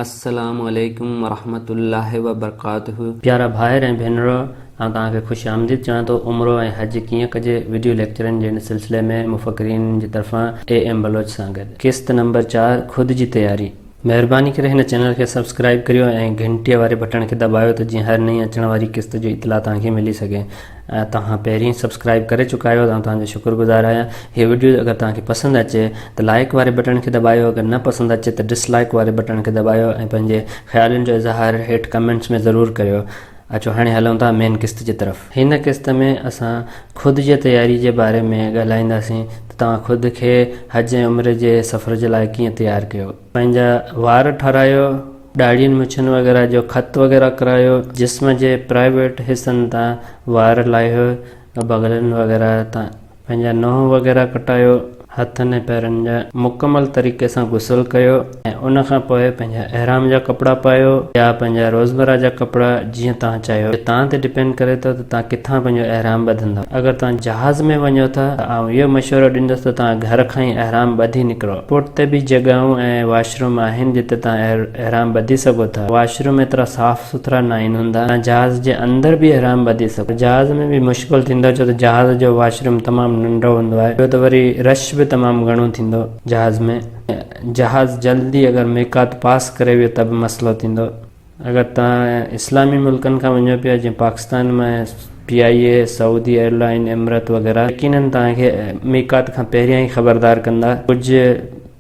السلام عليڪم ورحمة الله وبرڪاته. پيارا ڀائر ۽ ڀينرو آئون توهان کي خوش آمديد چوان ٿو عمرو ۽ حج ڪيئن ڪجي وڊيو ليڪچرن جي ان سلسلي ۾ مفڪرين جي طرفان اي ايم بلوچ سان گڏ قسط نمبر چار خود جي تياري. مهرباني ڪري هن چينل کي سبسڪرائيب ڪريو ۽ گهنٽيء واري بٽڻ کي دٻايو ته جيئن هر نئين اچڻ واري قسط جو اطلاع توهان کي ملي سگهي. توهان پهرين سبسڪرائب ڪري چڪا آهيو آئون توهان جو شڪر گذار آهيان هي وڊيو اگر توهان کي پسند اچي ته لائڪ واري بٽڻ کي دٻايو اگر نه پسند اچي ته ڊس لائڪ واري بٽڻ کي دٻايو ۽ پنهنجي خيالن جو اظهار هيٺ ڪمينٽس ۾ ضرور ڪريو اچو هاڻي هلون ٿا مين قسط جي طرف. هن قسط ۾ اسان خود جي تياري جي باري ۾ ڳالهائينداسين ته توهان خود کي حج ۽ عمري جي سفر جي لاء ڪيئن تيار ڪيو. پنهنجا وار ٺارايو، ڏاڙهين مڇن وغيره جو خط وغيره ڪرايو، جسم جي پرائيويٽ حصن تان وار لاهيو، بغلن وغيره تان پنهنجا ننهن وغيره ڪٽايو، هٿن ۽ پيرن جا مڪمل طريقي سان غسل ڪيو ۽ ان کان پوء پنهنجا احرام جا ڪپڙا پايو يا پنهنجا روزمره جا ڪپڙا، جيئن توهان چاهيو ته توهان تي ڊپينڊ ڪري ٿو ته توهان ڪٿان پنهنجو احرام ٻڌندا اگر توهان جهاز ۾ وڃو ٿا ته آئون اهو مشورو ڏيندس ته توهان گهر کان ئي احرام ٻڌي نڪرو پورٽ تي به جڳهون ۽ واش روم آهن جتي توهان احرام ٻڌي سگهو ٿا واش روم ايترا صاف سٿرا ناهن هوندا توهان جهاز جي اندر به احرام ٻڌي سگهو ٿا جهاز ۾ به مشڪل ٿيندو ڇو ته جهاز جو واش روم تمام ننڍو هوندو آهي ٻيو ته وري رش به تمام گهڻو ٿيندو جهاز ۾ جهاز جلدي اگر ميقات پاس ڪري ويو ته به مسئلو ٿيندو. اگر توهان اسلامي ملڪن کان وڃو پيا جيئن Pakistan ۾ P I A, Saudi airline, Emirates وغيره يقينن توهان کي ميقات کان پهريان ئي خبردار ڪندا، ڪجهه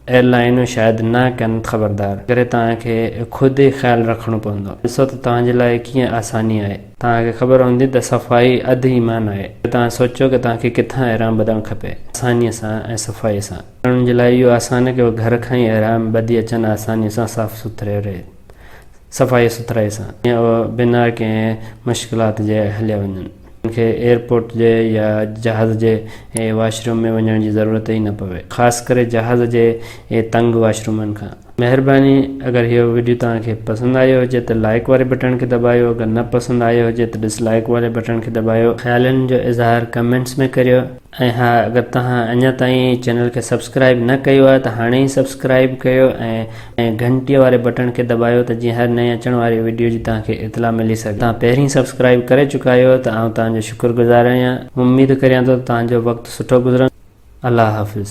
ايئرلائينون شايد نه ڪن خبردار ان ڪري توهان کي خود ئي خيال رکڻو پوندو ڏسو ته توهان جي لاء ڪيئن آساني آهي، توهان کي خبر هوندي ته صفائي اڌ ايمان آهي پوء توهان سوچو ته توهان کي ڪٿان احرام ٻڌڻ کپي آساني سان ۽ صفائي سان، ماڻهن جي لاء اهو آسان آهي ڪي اهي گهر کان ئي احرام ٻڌي اچن آساني سان صاف سٿري رهي. صفائي سٿرائي سان ۽ بنا ڪنهن مشڪلات جي هليا وڃن انهن کي ايئرپورٽ جي يا جهاز جي واشروم ۾ وڃڻ جي ضرورت ئي نه پوي خاص ڪري جهاز جي تنگ واشرومن کان. مهرباني اگر اهو وڊيو توهان کي پسند آيو هجي ته لائيڪ واري بٽڻ کي دٻايو اگر نه پسند آيو هجي ته ڊس لائيڪ واري بٽڻ کي دٻايو. خيالن جو اظهار ڪمينٽس ۾ ڪريو. ۽ ها اگر توهان اڃا تائين چينل کي سبسڪرائب نه ڪيو آهي ته هاڻي ئي سبسڪرائب ڪيو ۽ گهنٽي واري بٽڻ کي دٻايو ته جيئن هر نئين اچڻ واري وڊيو جي توهان کي اطلاع ملي سگهي توهان پهرين سبسڪرائب ڪري چڪا آهيو ته آئون توهان جو شڪر گذار آهيان اميد ڪريان ٿو ته توهان جو وقت سٺو گذرن الله حافظ.